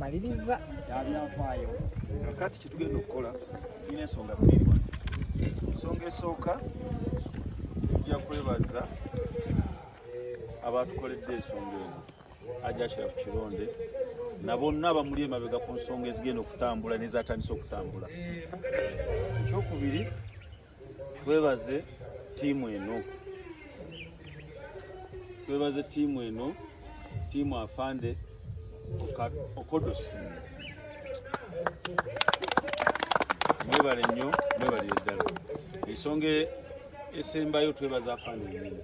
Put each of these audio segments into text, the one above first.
maliriza kyabyafaayo nga kati kyetugenda okukola tulina ensonga bbiri wano ensonga esooka tujja kwebaza abatukoledde ensonga eno ajashirafu kironde na bonna abamuli emabega ku nsonga ezigenda okutambula nezatandise okutambula ekyokubiri twebaze tiimu eno twebaze tiimu eno tiimu afande okodos mwebale nnyo mwebalire ddala ensonga esembayo twebaza afande enyini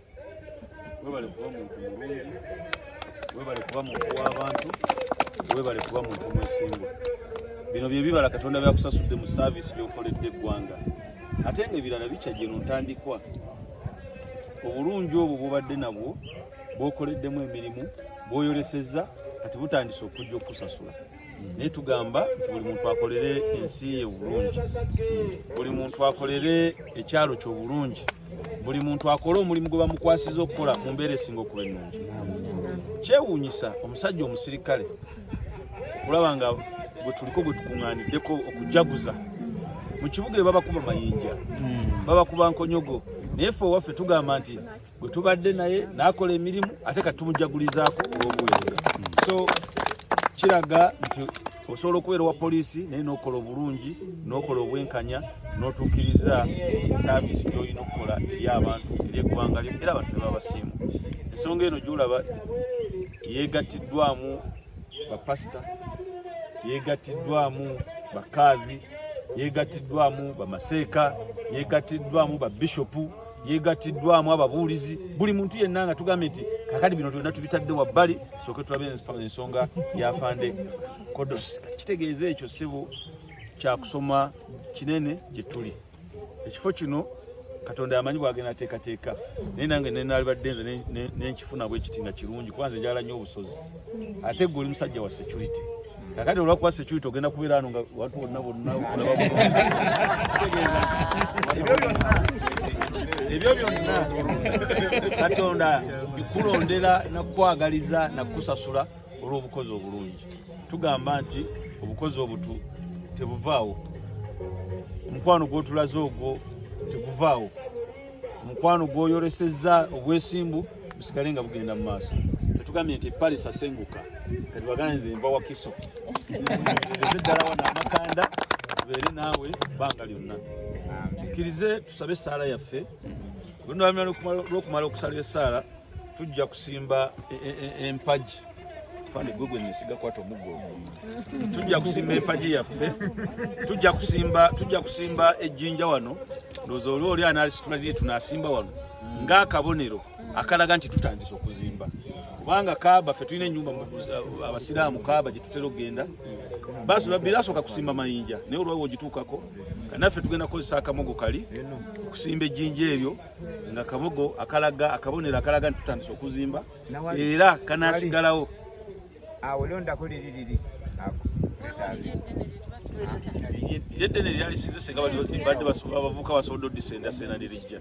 webale kuba muntu mulungi webale kuba muntu w'abantu webale kuba muntu mwesimbu bino bye bibala katonda byakusasudde mu saaviisi byokoledde eggwanga ate nga ebirala bikyajje no ntandikwa obulungi obwo bubadde nabwo bwokoleddemu emirimu bwoyolesezza kati butandise okujja okukusasula naye tugamba nti buli muntu akolere ensi ye obulungi buli muntu akolere ekyalo kye obulungi buli muntu akole omulimu gwe bamukwasiza okukola mu mbeera esinga okuba ennungi kyewuunyisa omusajja omusirikale okulaba nga bwe tuliko bwe tukuŋŋaaniddeko okujaguza mu kibuga ebabakuba mayinja hmm. babakuba nkonyogo naye fe owaffe tugamba nti gwe tubadde naye n'akola emirimu ate kati tumujagulizaako olw'obuweereza so kiraga nti osobola okubeera owa poliisi naye n'okola obulungi n'okola obwenkanya n'otuukiriza saaviisi gy'olina okukola eri abantu eri eggwanga lyo era abantu ne babasiimu ensonga eno gyolaba yeegattiddwamu bapasita yeegattiddwamu bakaavi yeegattiddwamu bamaseeka yeegattiddwamu babishopu yegattiddwamu ababuulizi buli muntu yenna nga tugambye nti kakati bino byonna tubitadde wabbali sooke tulabe ensonga yafande kodos kati kitegeeza ekyo ssebo kyakusoma kinene gye tuli ekifo kino katonda yamanyi bwagenda ateekateeka naye nange nenalibadde nze nenkifuna bwekiti nga kirungi kuba nze njala nnyo obusozi ate gwe oli musajja wa security Kakati olwakuba security ogenda kubeera ano nga watu bonna bonna ebyo byonna katonda bikulondera nakukwagaliza nakukusasula olw'obukozi obulungi tugamba nti obukozi obutu tebuvaawo omukwano gwotulaze ogwo teguvaawo omukwano gwoyolesezza obwesimbu busigale nga bugenda mu maaso tetugambye nti paris asenguka kati bagana nze nva wakiso eze ddala wano amakanda tubeere naawe bbanga lyonna mukkirize tusabe essaala yaffe lwokumala okusala essaala tujja kusimba e, e, e, empagi fande gwe gwe nesiga kwata omuggo tujja kusimba empagi yaffe tujja kusimba tujja kusimba ejjinja wano ndowooza oli oli analisitula liri tunasimba wano ng'akabonero akalaga nti tutandise okuzimba kubanga kaaba ffe tulina enyumba uh, abasiraamu kaaba gyetutera okugenda birasoka kusimba mayinja naye olwawo ogitukako kanaffe tugenda kukozesa akamogo kali okusimba ejjinja eryo nga kamogo akalaga akabonero akalaga nti tutandise okuzimba era kanasigalawo awo londako liri liri ako yeddene lyalisinze senga badde bavuka basobodde odisendasena lirijja